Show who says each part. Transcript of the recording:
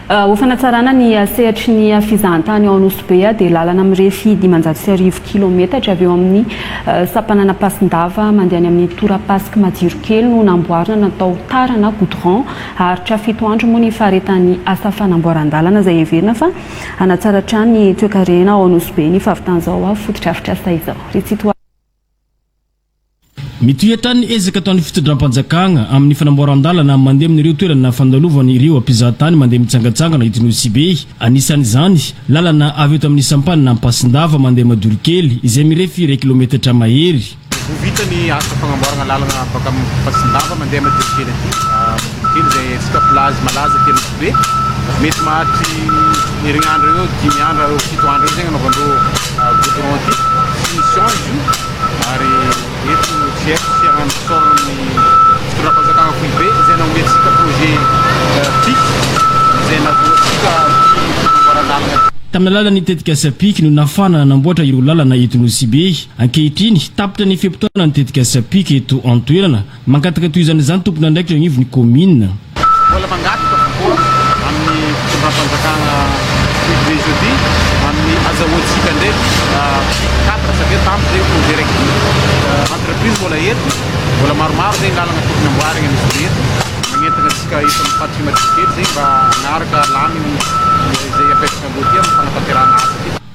Speaker 1: Ho fanatsarana ny sehatry ny fizahantany ao Anosibe dia lalana mirefy dimanjato sy arivo kilaometatra avy eo amin'ny sampanana Ampasin-dava mandeha any amin'ny tora-pasik' Majirokely no namboarina natao tara na goudron. Haharitra fito andro moa ny faharetan'ny asa fanamboaran-dalana izay heverina fa hanatsara hatrany ny toekarena ao Anosibe ny fahavitan'izao fotodrafitrasa izao.
Speaker 2: Mitohy hatrany ny ezaka ataon'ny fitondram-panjakana amin'ny fanamboaran-dalana mandeha amin'ireo toerana fandalovana ireo mpizahatany mandeha mitsangantsangana eto Nosy-Be. Anisan'izany, lalana avy eto amin'ny sampanina Ampasindava mandeha Madorokely izay mirefy iray kilometatra mahery. Ho vita ny
Speaker 3: asa fagnamboarana lalana avy makany Ampasindava mandeha Madorokely aty. Madorokely izay antsika plazy malaza aty Nosy-Be. Mety maharitry herinandro eo dimy andro na fito andro eo zegny anaovandreo goudron ity. Finition izy io. ary eto no tsy haiko tsy aroany mpisolo ny fitondram-panjakana foibe izay nanome antsika projet pic izay nahazoa antsika ny fanamboaran-dalana aty. Tamin'ny alalan'ny
Speaker 2: tetikasa pic no nafahana nanamboatra ireo lalana eto Nosy Be. Ankehitriny, tapitra ny fe-potoana ny tetikasa pic eto an-toerana. Mangataka tohizana izany tompon'andraikitra eo anivon'ny kaominina. Mbola mangataka
Speaker 3: kokoa amin'ny fitondram-panjakana ity Division ity amin'ny azahoantsika indray cadre satria tamin'ny izay ho directive entreprise mbola eto, mbola maromaro izay ny lalana tokony amboarina misy be eto, magnentana antsika eto amin'ny Faritra Imatiskely izay mba hanaraka laminy izay apetraka ambony ity amin'ny fanatanterahana asa ity.